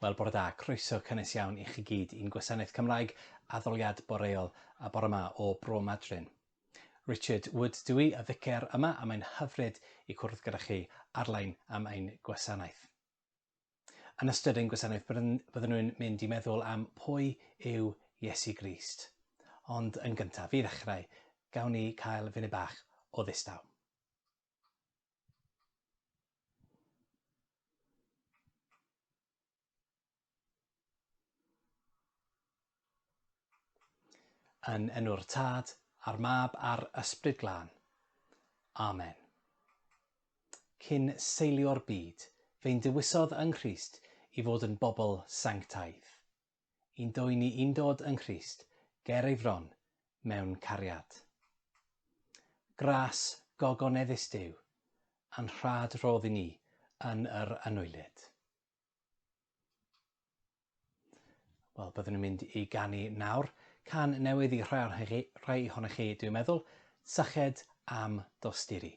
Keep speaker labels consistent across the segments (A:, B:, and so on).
A: Wel, bore da. Croeso cynnes iawn i chi gyd i'n gwasanaeth Cymraeg addoliad boreol a bore ma o Bro Madryn. Richard Wood dw i, y ficer yma, a mae'n hyfryd i cwrdd gyda chi arlein am ein gwasanaeth. Yn ystod ein gwasanaeth byddwn nhw'n mynd i meddwl am pwy yw Iesu Grist. Ond yn gyntaf, i ddechrau, gawn ni cael funud bach o ddistaw. Yn enw'r Tad, a'r Mab, a'r Ysbryd Glân. Amen. Cyn seilio'r byd, fe'n dewisodd yng Nghrist i fod yn bobl sanctaidd. i'n dwy ni i'n dod yng Nghrist ger ei fron mewn cariad. Gras gogoneddus Duw, a'n rhad rhodd i ni yn yr anwylyd. Wel, byddwn ni'n mynd i ganu nawr can newydd i rhai ohonoch chi, rhai ohonoch chi dwi'n meddwl, syched am dosturi.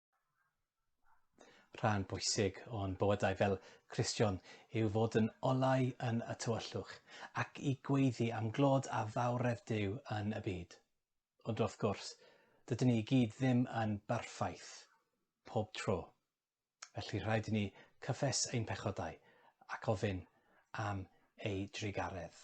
A: Rhan bwysig o'n bywydau fel Cristion yw fod yn olau yn y tywyllwch ac i gweiddi am glod a fawredd Duw yn y byd. Ond wrth gwrs, dydyn ni i gyd ddim yn berffaith pob tro. Felly rhaid i ni cyffes ein pechodau ac ofyn am ei drugaredd.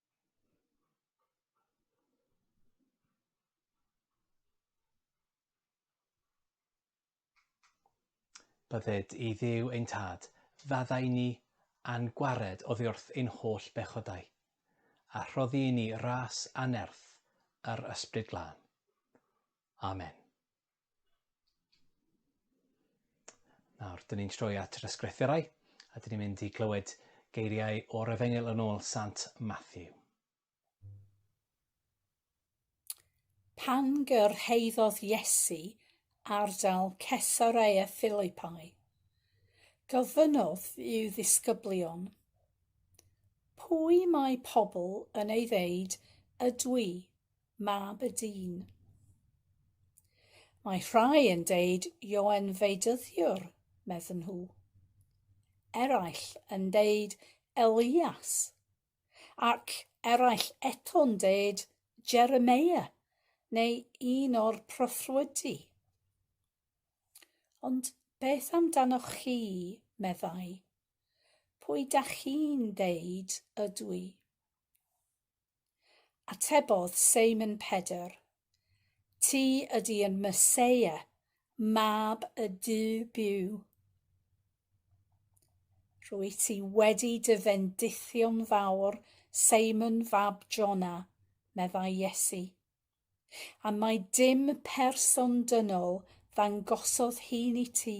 A: Bydded i Dduw ein Tad, faddau ni a'n gwared oddi wrth ein holl bechodau, a rhoddi i ni ras anerth yr Ysbryd Glân. Amen. Nawr, dyn ni'n troi at yr ysgrifferau, a dyn ni'n mynd i glywed geiriau o'r efengil yn ôl Sant Matthew.
B: Pan gyrhaeddodd Iesu ardal Cesarea Philippi, gofynnodd i'w ddisgyblion, Pwy mae pobl yn ei ddeud ydw i? mab y dyn. Mae rhai yn deud Ioen Feidyddiwr, medden nhw. Eraill yn deud Elias, ac eraill eto'n deud Jeremia neu un o'r proffwydi. Ond beth amdanoch chi, meddai? Pwy da chi'n deud ydw i? Atebodd Seimon Pedr, Ti ydi yn Meseia, Mab y Duw byw. Rwyt ti wedi dy fendithio'n fawr, Seimon fab Jona, meddai Iesu. A mae dim person dynol ddangosodd hun i ti,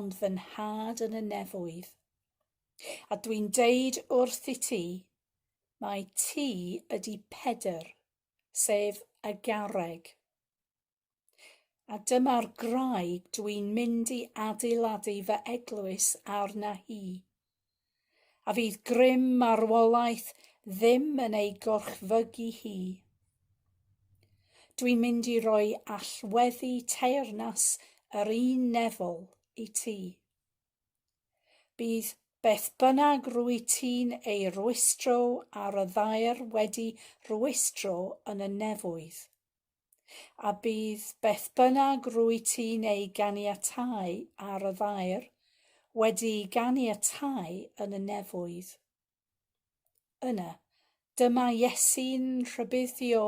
B: ond fy nhad yn y nefoedd. A dwi'n deud wrth i ti, Mae ti ydi Pedr, sef y garreg. A dyma'r graig dw i'n mynd i adeiladu fy eglwys arna hi. A fydd grym marwolaeth ddim yn ei gorchfygu hi. Dwi'n mynd i roi allweddi teyrnas yr un nefol i ti. Bydd beth bynnag rwyt ti'n ei rwystro ar y ddaear wedi rwystro yn y nefoedd. A bydd beth bynnag rwyt ti'n ei ganiatáu ar y ddaear wedi'i ganiatáu yn y nefoedd. Yna, dyma Iesu'n rhybuddio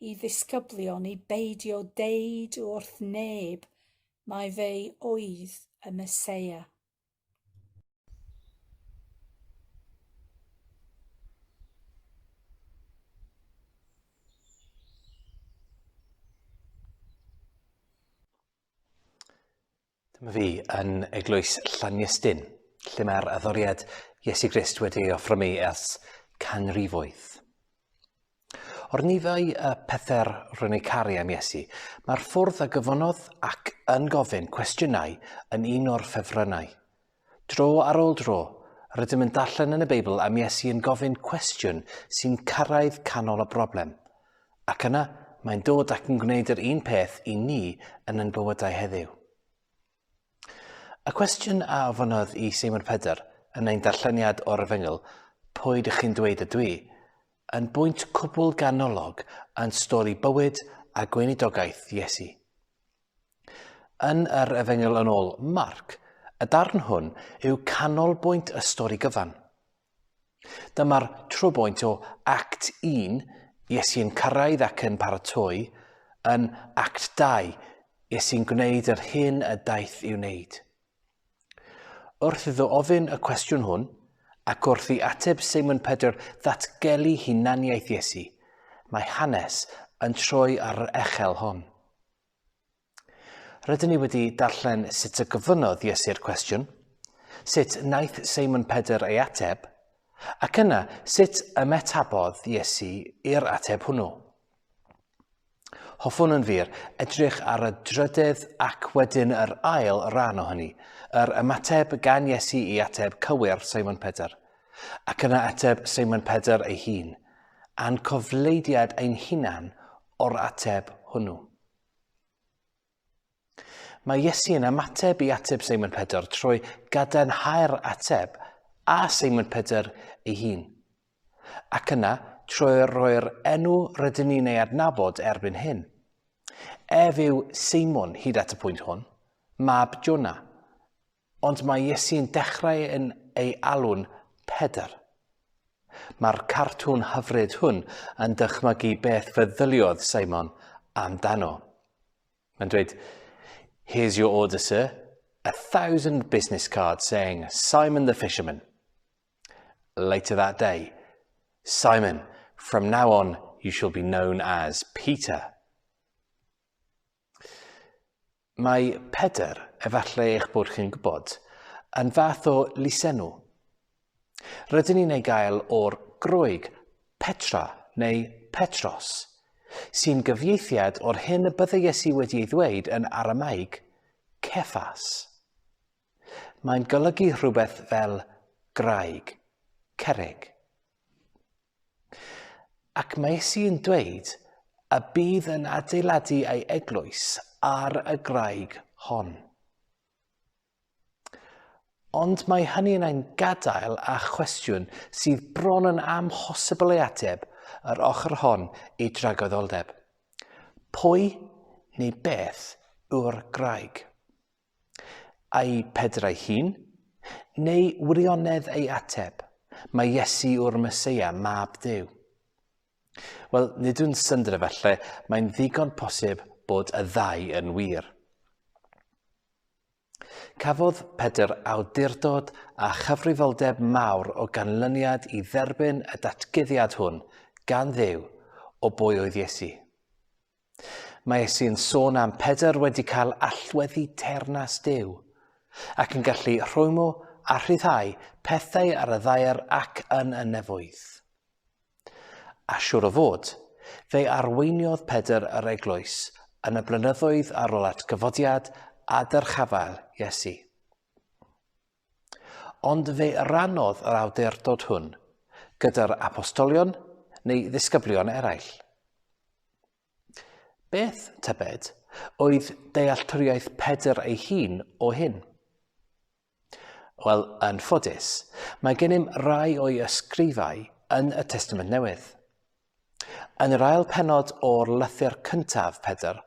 B: i ddisgyblion i beidio deud wrth neb mai fe oedd y Meseia.
A: Dyma fi yn eglwys Llanystin, lle mae'r addoriad Iesu Grist wedi ei offro mi ers canrifoedd. O'r nifau y pethau'r rwy'n ei caru am Iesu, mae'r ffwrdd a gyfonodd ac yn gofyn cwestiynau yn un o'r ffefrynnau. Dro ar ôl tro, rydym yn darllen yn y Beibl am Iesu yn gofyn cwestiwn sy'n cyrraedd canol y broblem, ac yna mae'n dod ac yn gwneud yr un peth i ni yn ein bywydau heddiw. Y cwestiwn a ofynodd i Seimon Pedr yn ein darlleniad o'r efengyl, pwy dych chi'n dweud y dwi, yn bwynt cwbl ganolog yn stori bywyd a gweinidogaeth Iesu. Yn yr Efengyl yn ôl Marc, y darn hwn yw canolbwynt y stori gyfan. Dyma'r trwybwynt o Act 1, Iesu yn cyrraedd ac yn paratoi, yn Act 2, Iesu'n gwneud yr hyn y daeth i'w wneud. Wrth iddo ofyn y cwestiwn hwn, ac wrth i ateb Seimon Pedr ddatgelu hunaniaeth Iesu, mae hanes yn troi ar yr echel hon. Rydyn ni wedi darllen sut y gofynnodd Iesu'r cwestiwn, sut naeth Seimon Pedr ei ateb, ac yna sut ymetabodd Iesu i'r ateb hwnnw. Hoffwn yn wir edrych ar y drydydd ac wedyn yr ail rhan o hynny, yr ymateb gan Iesu i ateb cywir Seimon Pedr, ac yna ateb Seimon Pedr ei hun, a'n cofleidiad ein hunan o'r ateb hwnnw. Mae Iesu yn ymateb i ateb Seimon Pedr trwy gadarnhau'r ateb a Seimon Pedr ei hun. Ac yna, trwy roi'r enw rydyn ni'n ei adnabod erbyn hyn. Ef yw Seimon hyd at y pwynt hwn, mab Jonah, Ond mae Iesu'n dechrau yn ei alw'n Pedr. Mae'r cartŵn hyfryd hwn yn dychmygu beth feddyliodd Simon amdano. Mae'n dweud, Here's your order, sir. A thousand business cards saying Simon the fisherman. Later that day, Simon, from now on you shall be known as Peter. Mae Pedr, efallai eich bod chi'n gwybod, yn fath o lysenw. Rydyn ni'n ei gael o'r Groeg Petra neu Petros, sy'n gyfieithiad o'r hyn y byddai Iesu wedi ei ddweud yn Aramaeg, Cephas. Mae'n golygu rhywbeth fel graig, cerrig. Ac mae Iesu yn dweud y bydd yn adeiladu ei eglwys ar y graig hon. Ond mae hynny yn ein gadael â chwestiwn sydd bron yn amhosibl ei ateb yr ochr hon i dragoeddoldeb. Pwy neu beth yw'r graig? Ai Pedr ei hun? Neu wirionedd ei ateb, mae Iesu yw'r Meseia, mab Duw? Wel, nid yw'n syndod efallai, mae'n ddigon posib bod y ddau yn wir. Cafodd Pedr awdurdod a chyfrifoldeb mawr o ganlyniad i dderbyn y datguddiad hwn gan ddew o bwy oedd Iesu. Mae Iesu yn sôn am Pedr wedi cael allweddi teyrnas Duw, ac yn gallu rhwymo a rhyddhau pethau ar y ddaear ac yn y nefoedd. A siŵr o fod, fe arweiniodd Pedr yr eglwys yn y blynyddoedd ar ôl at gyfodiad a dyrchafael Iesu. Ond fe rannodd yr awdurdod hwn gyda'r apostolion neu ddisgyblion eraill. Beth, tybed, oedd dealltwriaeth Pedr ei hun o hyn? Wel, yn ffodus, mae gennym rai o'i ysgrifau yn y Testament Newydd. Yn yr ail pennod o'r lythyr cyntaf, Pedr,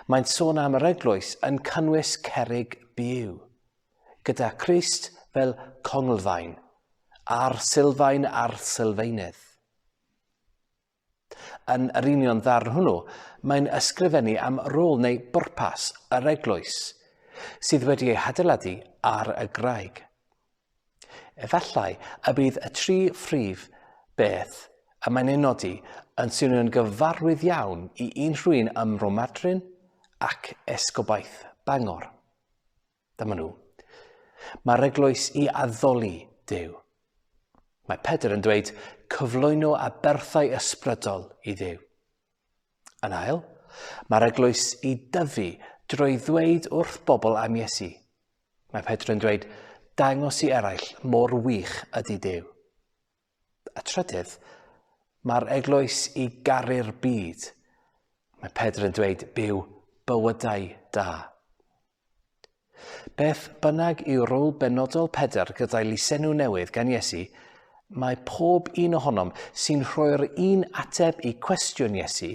A: mae'n sôn am yr eglwys yn cynnwys cerig byw, gyda Christ fel conglfaen, a'r sylfaen a'r sylfaenydd. Yn yr union ddarn hwnnw, mae'n ysgrifennu am rôl neu bwrpas yr eglwys, sydd wedi ei hadeiladu ar y graig. Efallai y bydd y tri phrif beth y mae'n ei nodi yn swnio'n gyfarwydd iawn i unrhywun ym Mromadryn ac Esgobaeth Bangor. Dyma nhw. Mae'r eglwys i addoli Duw. Mae Pedr yn dweud cyflwyno a berthau ysbrydol i Dduw. Yn ail, mae'r eglwys i dyfu drwy ddweud wrth bobl am Iesu. Mae Pedr yn dweud, dangos i eraill mor wych ydy Duw. A trydydd, mae'r eglwys i garu'r byd. Mae Pedr yn dweud, byw bywydau da. Beth bynnag yw rôl benodol Pedr gyda'i lisenw newydd gan Iesu, mae pob un ohonom sy'n rhoi'r un ateb i cwestiwn Iesu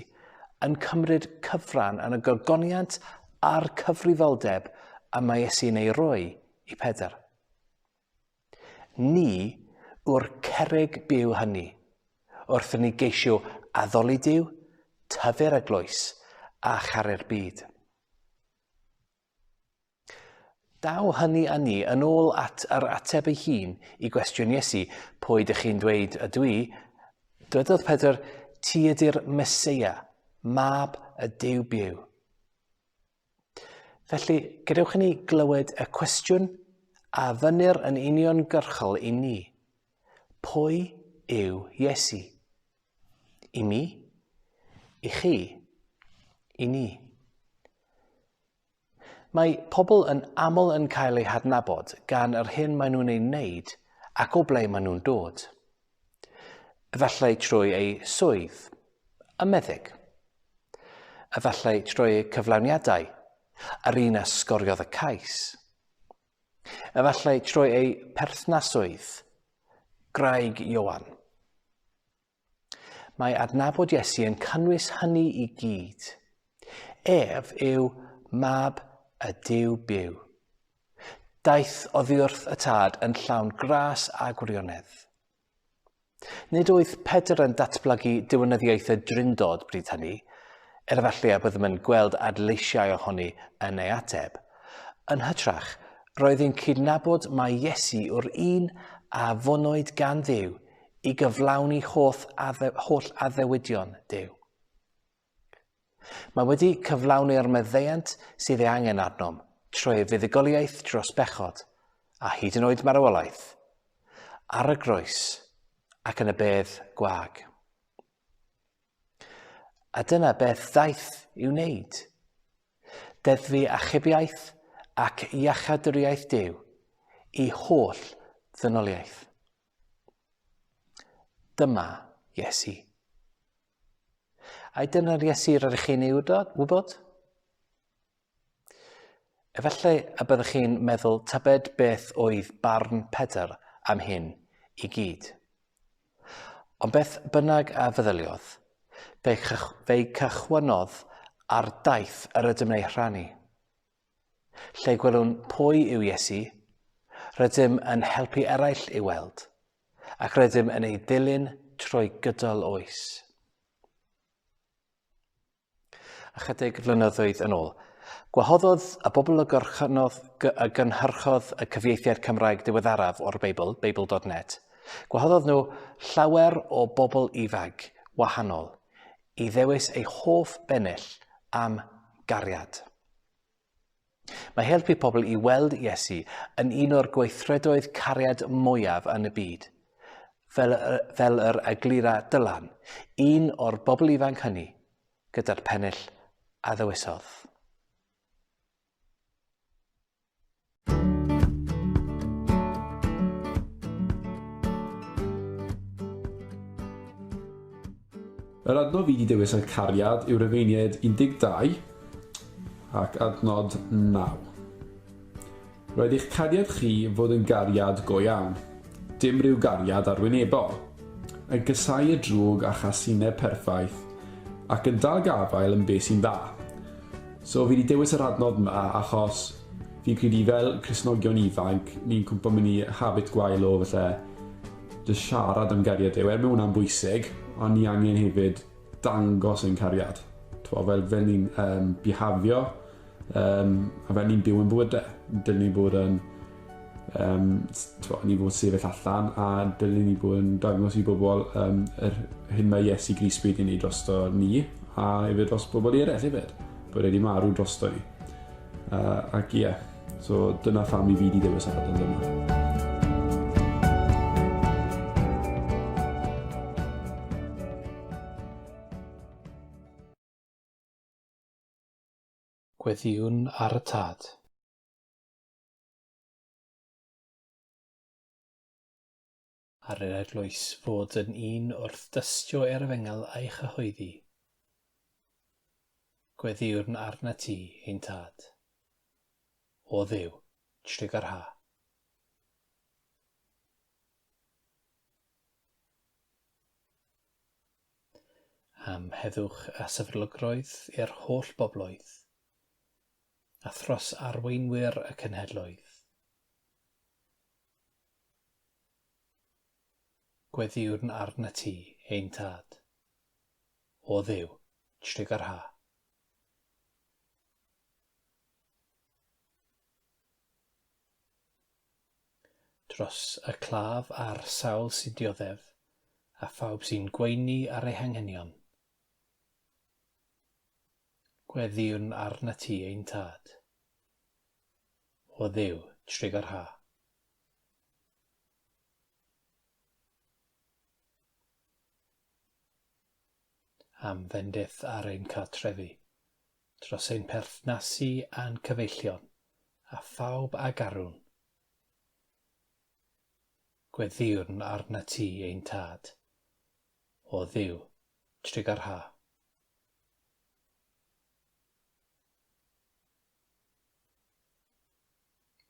A: yn cymryd cyfran yn y gogoniant a'r cyfrifoldeb y mae Iesu'n ei roi i Pedr. Ni yw'r cerrig byw hynny, wrth ni geisio addoli Dyw, tyfu'r eglwys a charu'r byd. Daw hynny â ni yn ôl at yr ateb ei hun i gwestiwn Iesu, Pwy ydych chi'n dweud ydw i? Dywedodd Pedr, Ti ydy'r Meseia, mab y Duw byw. Felly, gadewch i ni glywed y cwestiwn a fynnir yn uniongyrchol i ni. Pwy yw Iesu? I mi? I chi? I ni? Mae pobl yn aml yn cael eu hadnabod gan yr hyn maen nhw'n ei wneud ac o ble maen nhw'n dod. Efallai trwy eu swydd, y meddyg. Efallai trwy eu cyflawniadau, yr un a sgoriodd y cais. Efallai trwy eu perthnasoedd, Graig Ioan. Mae adnabod Iesu yn cynnwys hynny i gyd. Ef yw mab y Dyw byw. Daeth oddiwrth y tad yn llawn gras a gwirionedd. Nid oedd Pedr yn datblygu diwinyddiaeth y Drindod bryd hynny, er efallai a byddem yn gweld adleisiau ohoni yn ei ateb. Yn hytrach, roedd yn cydnabod mai Iesu yw'r un a fonwyd gan Dduw i gyflawni holl addewidion Duw. Mae wedi cyflawni'r maddeuant sydd ei angen arnom trwy ei fuddugoliaeth dros bechod, a hyd yn oed marwolaeth, ar y groes ac yn y bedd gwag. A dyna beth ddaeth i'w wneud. Deddfu achubiaeth ac iachadwriaeth Duw i holl ddynoliaeth. Dyma Iesu. A dyna'r Iesu yr ydych chi'n ei wybod? Efallai y byddwch chi'n meddwl tybed beth oedd barn Pedr am hyn i gyd. Ond beth bynnag a feddyliodd, fe, cychwynodd ar daith yr ydym ei rhannu. Lle gwelwn pwy yw Iesu, rydym yn helpu eraill i'w weld, ac rydym yn ei ddilyn trwy gydol oes. Ychydig flynyddoedd yn ôl, gwahoddodd y bobl y gorchynnodd y gynhyrchodd y cyfieithiad Cymraeg diweddaraf o'r Beibl, Beibl.net, gwahoddodd nhw llawer o bobl ifanc wahanol i ddewis eu hoff bennill am gariad. Mae helpu pobl i weld Iesu yn un o'r gweithredoedd cariad mwyaf yn y byd. Fel, fel yr eglura Dylan, un o'r bobl ifanc hynny, gyda'r pennill a ddewisodd.
C: Yr adnodd i ddewis y cariad yw Rufeiniaid 12 ac adnod 9. Roedd eich cariad chi fod yn gariad go iawn, dim rhyw gariad arwynebol, yn casau y drwg a chasineb perffaith, ac yn dal gafael yn be sy'n dda. So fi 'di dewis yr adnodd 'ma achos fi'n credu fel Cristnogion ifanc, ni'n cwmpo mewn i habit gwael o falle jyst siarad am gariad Duw. Er mae hwnna'n bwysig, ond ni angen hefyd dangos ein cariad. T'mo' fel fel ni'n yym bihafio yym a fel ni'n byw yn bywyde. Dylen ni bod yn Um, twa, ni fod sefyll allan a dylun ni bod yn dangos i bobl um, yr hyn mae Iesu Gris wedi gwneud drosto ni a efo dros bobl i eraill hefyd, bod wedi marw drosto ni. Uh, ac ie, yeah, so dyna pham i fi wedi dewis ar adael yma. Gweddïwn
A: ar y Tad. ar yr eglwys fod yn un wrth dystio er efengyl a'i chyhoeddi. Gweddïwrn arnat ti, ein Tad, o Dduw, trigar ha. am heddwch a sefydlogrwydd i'r holl bobloedd, a thros arweinwyr y cenhedloedd. Gweddïwn arnat ti, ein Tad, o Dduw, trig yr ha. Dros y claf a'r sawl sy'n dioddef, a phawb sy'n gweini ar ei hanghenion, Gweddïwn arnat ti, ein Tad. O Dduw, trig yr ha. am fendith ar ein cartrefi, dros ein perthnasu a'n cyfeillion, a phawb a garwn. Gweddïwn arnat ti, ein Tad. o Dduw, Tregar Ha.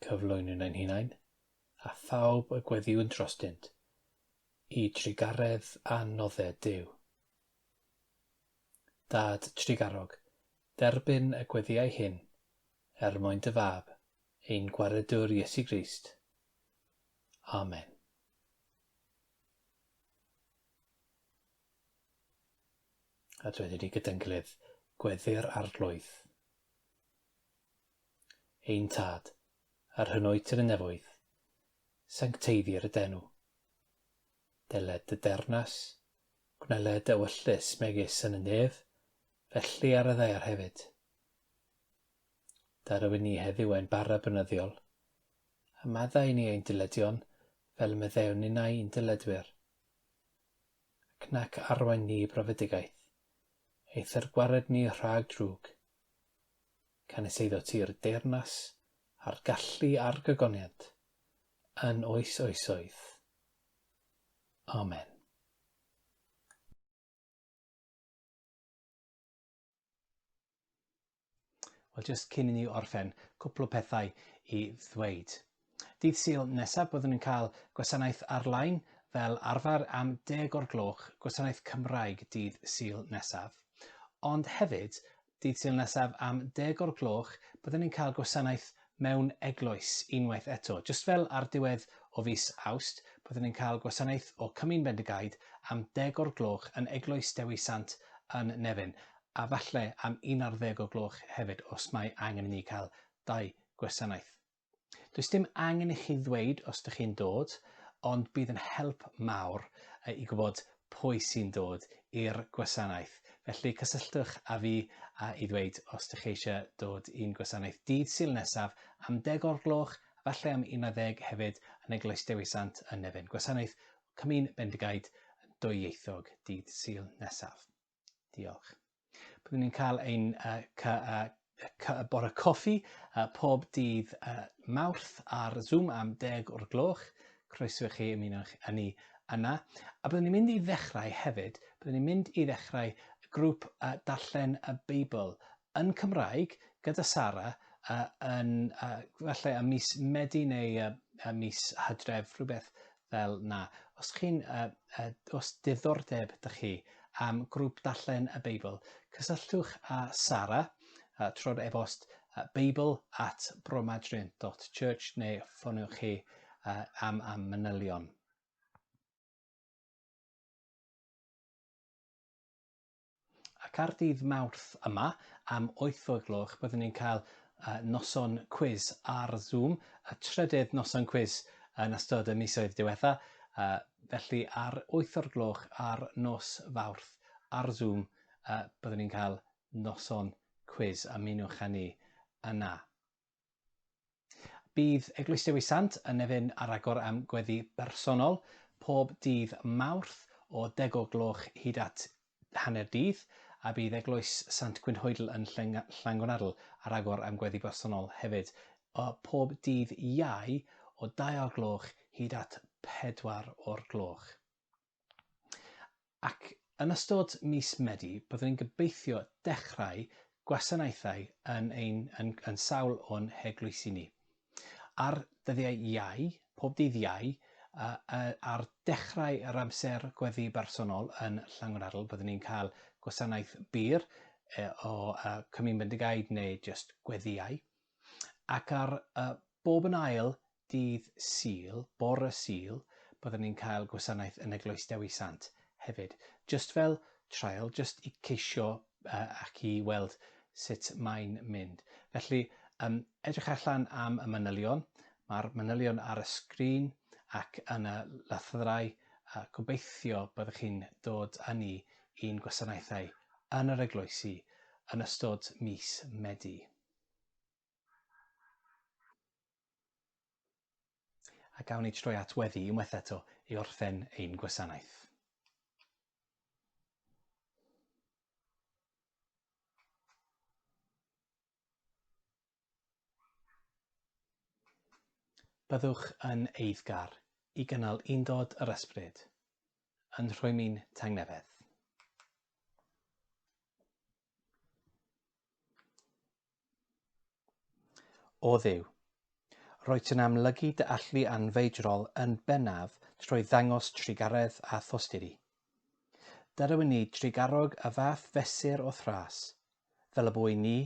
A: Cyflwynwn ein hunain, a phawb y gweddiwn drostynt, i trigaredd a nodde Duw. Dad trigarog, derbyn y gweddiau hyn, er mwyn dy fab, ein gwaredwr Iesu Grist. Amen. A dweud i ni gyda'n gilydd, Gweddï'r Arglwydd. Ein Tad, yr hyn oed yn y nefoedd, sancteiddir y d'enw. Deled dy dernas, gwneled dy ewyllys megis yn y nef, felly ar y ddaear hefyd. Da rywun ni heddiw ein bara bynyddiol, A maddau i ni ein dyledion, fel y meddewn ninnau i'n dyledwyr. Ac nac arwain ni i brofedigaeth, eithr gwared ni rhag drwg. Canys eiddo ti'r deyrnas, a'r gallu a'r gogoniant, yn oes oesoedd. Amen. Wel, jyst cyn i ni orffen, cwpl o pethau i ddweud. Dydd Sul nesaf byddwn ni'n cael gwasanaeth ar-lein fel arfer am deg o'r gloch, gwasanaeth Cymraeg dydd Sul nesaf. Ond hefyd, dydd Sul nesaf am deg o'r gloch, byddwn ni'n cael gwasanaeth mewn eglwys unwaith eto. Jyst fel ar diwedd o fis Awst, byddwn yn cael gwasanaeth o Cymun Bendigaid am deg o'r gloch yn Eglwys Dewi Sant yn Nefyn, a falle am un ar ddeg o gloch hefyd os mae angen i ni cael dau gwasanaeth. Does dim angen i chi ddweud os dych chi'n dod, ond bydd yn help mawr i gwybod pwy sy'n dod i'r gwasanaeth. Felly cysylltwch â fi a i ddweud os dych chi eisiau dod i'n gwasanaeth dydd Sul nesaf am deg o'r gloch, efallai am un ar ddeg hefyd yn Eglwys Dewi Sant yn Nefyn. Gwasanaeth Comin Bendigaid yn dwyieithog dydd Sul nesaf. Diolch. Byddwn ni'n cael ein uh, cy, uh, cy, bore coffi uh, pob dydd uh, mawrth ar Zoom am deg o'r gloch. Croeso i chi ymuno â ni yna. A byddwn ni'n mynd i ddechrau hefyd, byddwn ni'n mynd i ddechrau grŵp uh, darllen y Beibl yn Cymraeg gyda Sara yy yn yy falle ym mis Medi neu yy ym mis Hydref, rhywbeth fel 'na. Os chi'n yy yy os diddordeb 'da chi am grŵp darllen y Beibl, cysylltwch â Sara yy trwy'r e-bost yy beibl at bromadrian dot church neu ffoniwch chi yy am am manylion. Ac ar ddydd Mawrth yma am wyth o'r gloch byddwn ni'n cael noson cwis ar Zoom, y trydydd noson cwis yn ystod y misoedd diwetha, felly ar wyth o'r gloch ar nos Fawrth ar Zoom byddwn ni'n cael noson cwis, ymunwch â ni yna. Bydd Eglwys Dewi Sant yn Nefyn ar agor am gweddi bersonol pob dydd Mawrth o deg o gloch hyd at hanner dydd, a bydd Eglwys Sant Gwynhoedl yn Llangwnnadl ar agor am gweddi bersonol hefyd pob dydd Iau o dau o'r gloch hyd at pedwar o'r gloch. Ac yn ystod mis Medi, byddwn ni'n gobeithio dechrau gwasanaethau yn ein yn, yn sawl o'n heglwysi ni. Ar dyddiau Iau, pob dydd Iau, uh, uh, ar dechrau yr amser gweddi bersonol yn Llangwnaradl, byddwn ni'n cael gwasanaeth byr uh, o uh, Cymru Bendigaid neu just gweddiau. Ac ar uh, bob yn ail dydd Sul, bore Sul, bydden ni'n cael gwasanaeth yn Eglwys Dewi Sant hefyd. Jyst fel trial, jyst i ceisio uh, ac i weld sut mae'n mynd. Felly, um, edrych allan am y manylion. Mae'r manylion ar y sgrin ac yn y lythyrau. Uh, gobeithio byddwch chi'n dod â ni i'n gwasanaethau yn yr eglwysi yn ystod mis Medi. A gawn ni troi at weddi unwaith eto i orffen ein gwasanaeth. Byddwch yn eiddgar i gynnal undod yr ysbryd, yn rhwymi'n tangnefedd. O Dduw! Rwyt yn amlygu dy allu anfeidrol yn bennaf trwy ddangos trugaredd a thosturi. Derwyn ni drugarog y fath fesur o thras, fel y bu i ni,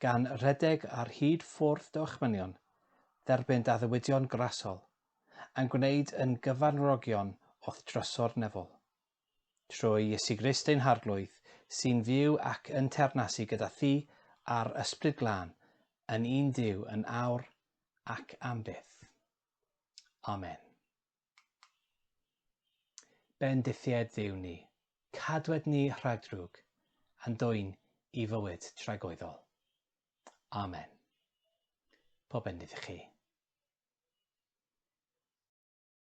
A: gan redeg ar hyd ffwrdd dy ochmynion, dderbyn d'addewidion grasol, a'n gwneud yn gyfanrogion o'th drysor nefol. trwy Iesu Grist ein Harglwydd, sy'n fyw ac yn teyrnasu gyda Thi a'r Ysbryd Glân, yn un Duw yn awr ac am byth. Amen. Bendithied Dduw ni, cadwed ni rhag drwg, a'n dwyn i fywyd tragoeddol. Amen. Pob bendith i chi.